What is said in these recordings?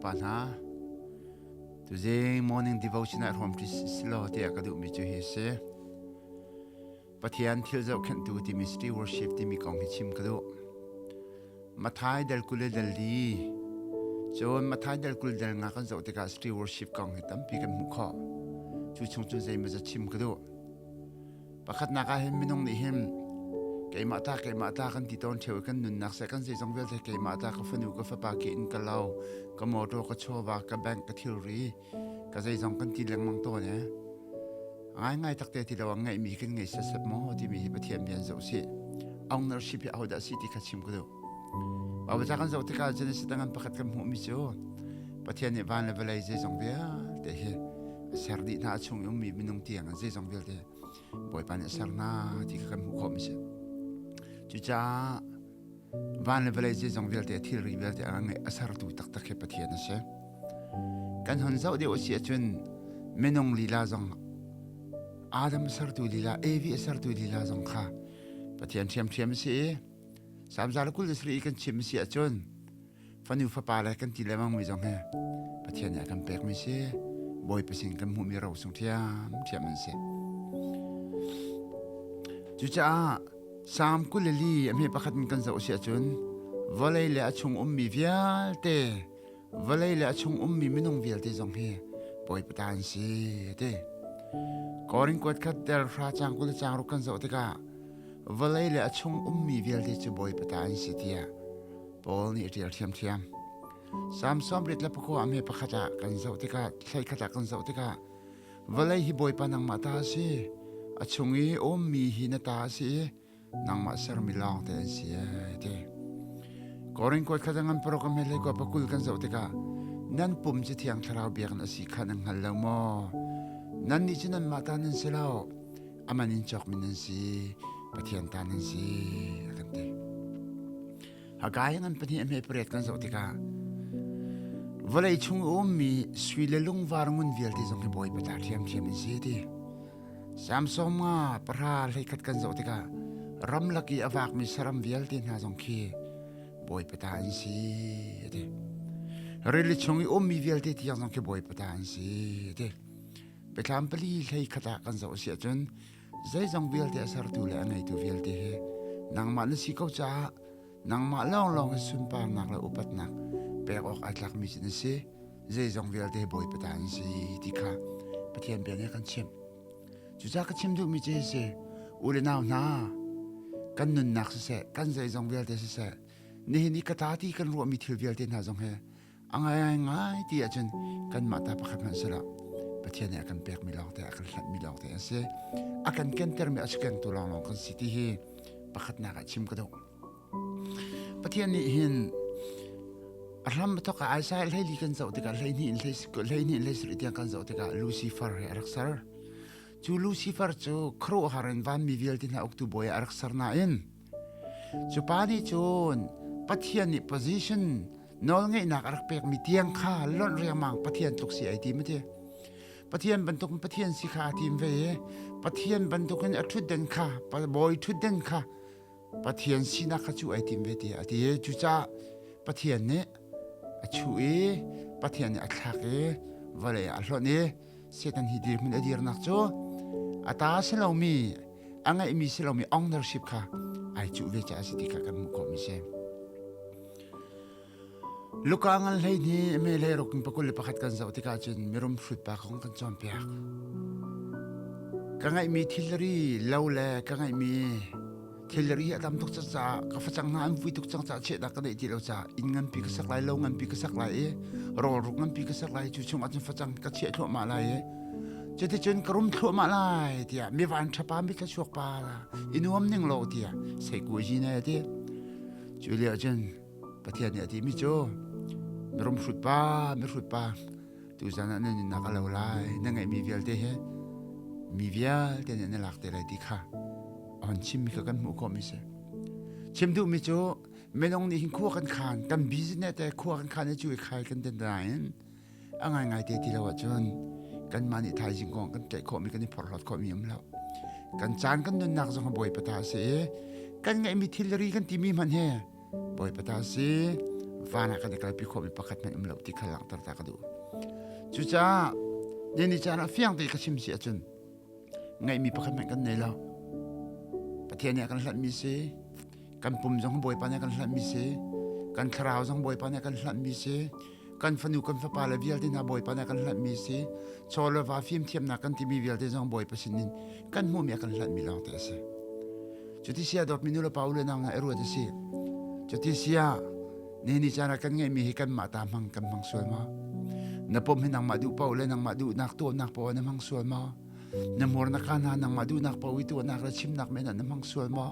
pa hna tuzing morning devotion ah ruam ṭi si law tiah ka duhmi cu hi a si Pathian thil zohkhenhtu timi City Worship timi kong hi chim ka duh. Mathai dal kul le dal li cun Mathai dal kul dal nga kan zoh tikah City Worship kong hi tampi kan hmuh khawh. Cu chung cun zeimawza chim ka duh. Pakhatnak ah hin minung nih hin keimah ta keimah ta kan ti tawn theo i kan nunnak se kan zeizong vialte keimah ta ka fanu ka fapa ke in ka lo ka motor ka chawa ka bank ka thilri ka zeizong kan ti lengmang tawn e ngaingai tak te ti lo ngaihmi kan ngei sasep maw timi hi pathian nih an zoh si ownership hi ahodah si ti kha chim ka duh babaca kan zoh tikah genesis tangan pakhat kan hmuhmi cu pathian nih van le vawlei zeizong vialte hi a ser dih hna a chung i ummi minung tiang an zeizong vialte bawipa nih a ser hna ti kha kan hmuh khawh mi si cucaah Van le vawlei zeizong vialte a thilri vialte a ngeih a sertu taktak hi Pathian a si. Kan hon zoh deuh a si ahcun minung lila zong Adam a sertu lila Evi a sertu lila zong kha Pathian ṭhiamṭhiam a si i Psalm zalakul le sari kan chim a si ahcun fanu fapa le kan ti lemang mi zong hi pathian nih a kan pek mi si bawi pasing kan hmuh mi ro sung thiam thiam an si cucaah sam kuleli ami pakhat in kan zoh si ahcun vawlei le a chung um mi vialte vawlei le a chung um mi minung vialte zong hi poi pata an si te koring kuat khat ter hra chang kul chang ru kan zoh tikah vawlei le a chung um mi vialte cu boi pata an si tia Paul nih a ṭial ṭhiamṭhiam. Salm sawmrit le pakua a me pakhat ah kan zoh tikah hleikhat ah kan zoh tikah vawlei hi Bawipa nangmah ta a si. A chung i ummi hi na ta a si i nangmah sermi lawngte an si ai ti. Korin kuat khat ngan paruk a mehlei kua pakul kan zoh tikah nan pum cu thiang thlarau biak na si kha nan hngal lo maw? Nan nih cu nanmah ta nan si lo, aman in cawkmi nan si, Pathian ta nan si, a kan ti. Hagai ngan pahnih a hme pariat kan zoh tikah vawlei chung a ummi sui le lungvar ngun vialte zong hi Bawipa ta ṭhiamṭhiam an si ti. Samson nga pahra hleikhat kan zoh tikah ramlak i a vakmi saram vialte hna zong khi Bawipa ta an si a ti. Rili chung i ummi vialte tiang zong khi Bawipa ta an si a ti. Biathlam pali hlei khat ah kan zoh a si ahcun Zeizong vialte a sertu le a ngeitu vialte he nangmah na si ko caah nangmah lawnglawng i sunparnak le upatnak pek awk ai tlakmi cu na si. Zeizong vialte Bawipa ta na si ti kha Pathian bia nih a kan chimh. Cucaah ka chim duhmi cu hi si, u le nau hna, kan nunnak siseh, kan zeizong vialte siseh, nihin i ka ta ti kan ruahmi thil vialte hna zong hi a ngaingai ti ahcun kanmah ta pakhat hmanh sila Pathian nih a kan pekmi lawngte a kan hlatmi lawngte an si a kan kentermi a si kengtu lawnglawng kan si ti hi pakhatnak ah chim ka duh Pathian nih hin a hram thok a aisa hleili kan zoh tikah hleihnih in hleihnih in hleisarih tiang kan zoh tikah Lucifer he a rak ser cu Lucifer cu khuaruahhar in vanmi vialte hna uktu bawi a rak ser nain Cu pa nih cun Pathian nih position nawlngeihnak a rak pekmi tiang kha lonh riangmang Pathian tluk si ai tim a ti. Pathian bantuk in Pathian si kha a tim ve i Pathian bantuk in a ṭhutden kha bawi ṭhutden kha Pathian sinak kha cu ai tim ve ti a ti. Cucaah Pathian nih a chuh i Pathian nih a thlak i vawlei ah a hlonh i Satan hi dirhmun a dirnak cu a ta si lomi a ngeihmi si lomi ownership kha ai cuh ve caah a si ti kha kan hmuh khawhmi si. Luka ngal hlei nih me le ruk in pakul le pakhat kan zoh tikah cun mirum hrut pa kong kan cawnpiak. Ka ngeihmi thilri lo le ka ngeihmi thilri a tam tuk caah ka facang hna an vui tuk cang caah chiahnak ka neih ti lo caah inn nganpi ka sak lai lo nganpi ka sak lai i rawlruk nganpi ka sak lai cu chungah cun facang ka chiah thluahmah lai i cuticun ka rum thluahmah lai tiah mi van thapa mi thluachuak pa la inuam ning lo tiah sai ku ji ne ti cu leo cun pathian nih a ti mi cu mi rum hrut pa mi hrut pa tuzan ah na nunnak a lo lai na ngaihmi vialte he mi vialte nih na lak te lai ti kha on chim mi kha kan hmuh ko mi se chim duh mi cu menong nih hin khua kan khan tam business te khua kan khan chu khai kan den da in angai ngai te ti lo chun kan ma ni thai jing kong kan tle kho mi kan i phor lot kho mi am lo kan chan kan nun nak zong ha boi pata se kan ngai mi thilri kan ti mi man he Bawipa ta si van ah kan i kalpi khawhmi pakhat nan um lo ti kha langhter ta ka duh. Cucaah nian caan ah fiang te ka chim si ahcun ngaihmi pakhat hmanh kan nei lo. Pathian nih a kan hlanhmi si kan pum zong Bawipa nih a kan hlanhmi si kan thlarau zong Bawipa nih a kan hlanhmi si kan fanu kan fapa le vialte hna bawipa na kan hlanh mi si chaw le va fim thiamnak kan timi vialte zong bawipa sin in kan hmu mi kan hlanh mi lawng te a si cuti sia dawt minu le pa u le nau na eruat a si cuti sia ni ni cana kan ngai mi hi kan mah ta hmang kan hmang sual ma na pom hi nangmah du pa le nangmah du nak to nak pa na hmang sual ma na mor na kana nangmah du nak pa wi to nak la chim nak me na na hmang sual ma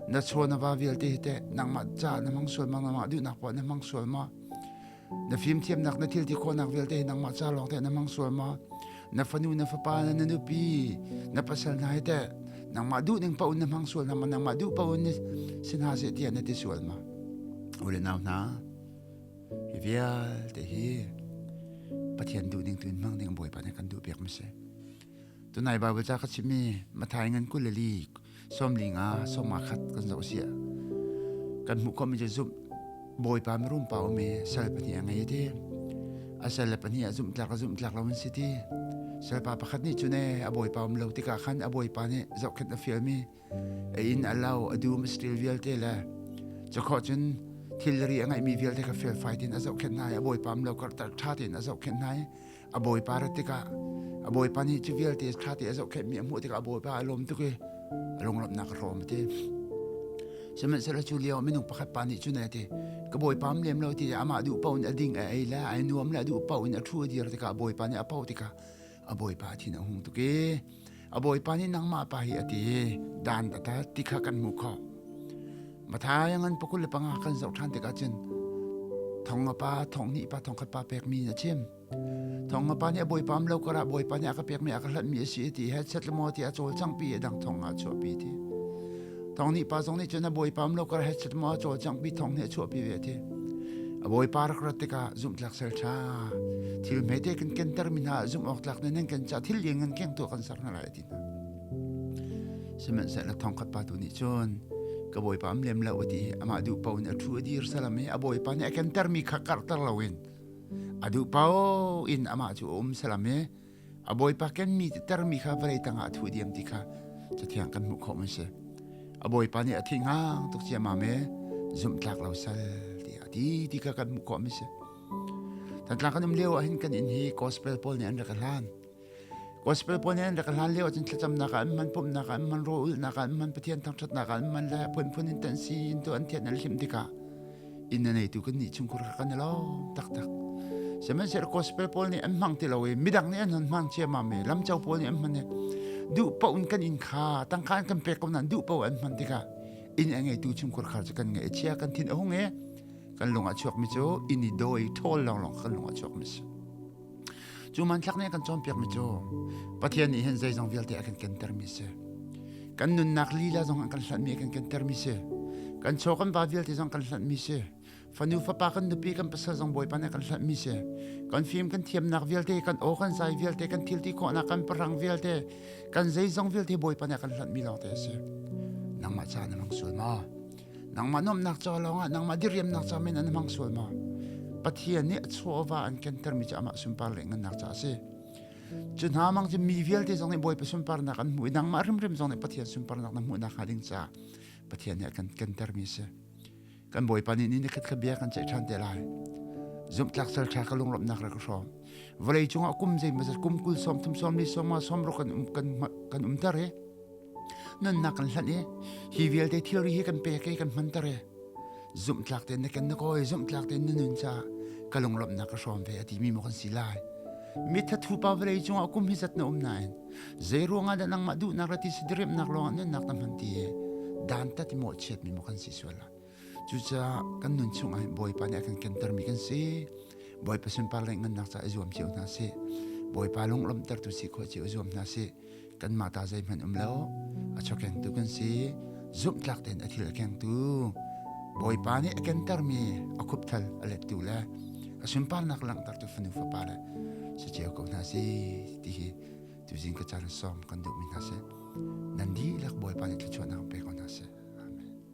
na cho na va vialte te nangmah cha na hmang sual ma nangmah du nak pa na hmang sual ma na fimthiamnak na thilti khawhnak vialte hi nangmah ca lawng teh na mang sual ma na fanu na fapa na na nupi na pasal hna hi teh nangmah duh ning paun na hmang sual na ma nangmah duh paun ni sin ha se tia na ti sual ma ule nau hna hi vialte hi pathian duh ning tun hmang ding bawi pa ne kan duh piak ma se Tunai Bible ca ka chim mi Mathai ngan kul li somli nga soma khat kan zo sia. Kan hmu khom mi je zumh bawipa mirum pa umi sal pahnih a ngei ti. A sal le pahnih a zumh tlak a zumh tlak lo si ti. Salpa pakhat nih cune a bawipa um lo tikah khan a bawipa nih zohkhet a fial mi A in a lo a dum a stil vialte le cakho cun thilri a ngeihmi vialte kha felfai tein a zohkhenh hna i a bawipa lo karhter ṭha tein a zohkhenh hna i a bawipa rat tikah a bawipa nih cu vialte ṭha tein a zohkhenh mi a hmuh tikah a bawipa a lawm tuk i a lunglawmhnak a hlawm a ti sihmanhsehlaw cu lio minung pakhat pa nih cun a ti ka bawipa am lem lo ti amah duh paoh in a ding a ei le ai nuam le a duh paoh in a ṭhu a dir tikah bawipa nih a poh tikah a bawipa thin a hung tuk i a bawipa nih nangmah pa hi a ti dan data ti kha kan hmu kho mathai ngan pakul le panga kan zoh ṭhan tikah cun thong a pa thong hnih pa thong khat pa pek mi in a chim thong a pa nih a bawipa am lo karah bawipa nih a ka pek mi a ka hlat mi a si ti he set le maw ti a cawl cangpi a dang thong ah a chuahpi ti tong ni pa zong ni cun a bawipa lo kar he chet mo chaw chang bi thong ne chuah pi ve thi a bawipa rak rat tika zum tlak sel cha thil me te kan ken ter min ha zum ok tlak ne nen kan cha thil yeng an keng tu kan sar na lai ti na semen se na thong khat pa tu ni chun ka bawipa am lem la uti ama du pau ne thu dir salame a bawipa ne ken ter mi kha kar ter lawin adu pau in ama chu om salame a bawipa kenmi titermi kha vawlei tangah a thuh diam ti kha cathiang kan hmuh khawh man si a bawipa nih a thingang tuk ciamam e zumtlak lo sal tiah ti ti kha kan hmuh khawh man si tantlang kan um leo ah hin kan in hi gospel paul nih an rak hlan gospel paul nih an rak hlan leo cun thlacamnak ah an man pumnak ah an man ro ulnak ah an man pathian thangthatnak ah an man le phunphun in tan si in tu an thian an hlim tikah inn a neitu kan nih chungkhur kha kan i lawm taktak sihmanhsehlaw gospel pawl nih an hmang ti lo i midang nih an han hmang ciammam i lamco pawl nih an hman i duh paoh in kan inn kha tangka in kan pek ko nain duh paoh an hman tikah inn a ngeitu chungkhur khar cu kan ngeih chia kan thin a hung i kan lung a chuakmi cu inn i dawi ṭhawl lawnglawng kha kan lung a chuakmi si Cu manthlak nih a kan cawnpiakmi cu Pathian nih hin zeizong vialte a kan kentermi si. Kan nunnak lila zong an kan hlantmi a kan kentermi si. Kan chaw kan va vialte zong kan hlantmi si. Fanu fapa kan nupi kan pasal zong Bawipa nih a kan hlantmi si. Kan fim kan thiamnak vialte, kan aw kan zai vialte, kan thil ti khawhnak kan parang vialte, kan zeizong vialte Bawipa nih a kan hlantmi lawngte a si. Nangmah ca na mang sul ma? nangmah nuamhnak ca lawngah nangmah diriamnak ca men an hmang sual maw pathian nih a chuahva an kentermi cu amah sunpar le ngannak ca a si cu hna mang cu mi vialte zong nih bawipa sunparnak an hmuh i nangmah rimrim zong nih pathian sunparnak na hmuh nakhnga ding ca pathian nih a kan kentermi a si kan bawipa nih ni ni khatkhat bia kan ceih ṭhan te lai zumhtlak sal ṭha ka lunglawmhnak ra ka hrawm vawlei cungah kum zei mazat kum kul sawm thum sawm li sawm ma sawm ruk kan um kan kan umter he nannak kan hlan i hi vialte thilri hi kan pek i kan hmanter i zumhtlak tein na ken na kawi zumhtlak tein na nun ca ka lunglawmhnak ka hrawm ve a ti mi mo kan si lai mitha thu pa vlei cungah kum hi zat na um nain zei ruangah dah nangmah duhnak ra ti si diriamnak lawngah nunnak na hman ti dan ta ti mo chiat mi mo kan si suala Cucaah kan nun chung ah Bawipa nih a kan kentermi kan si. Bawipa sunpar le ngannak ca i zuam cio hna sih. Bawipa lunglawmhtertu si khawh cio zuam hna sih. Kanmah ta zeihmanh um lo. A chawkengtu kan si. Zumhtlak tein a thil a kengtu. Bawipa nih a kentermi a khupthal a lettu le a sunparnak langhtertu fanu fapa le saceo ko hna si ti hi tu zing ka caan sawm kan duhmi hna si. Nan dihlak Bawipa nih thluachuahnak pe ko hna si.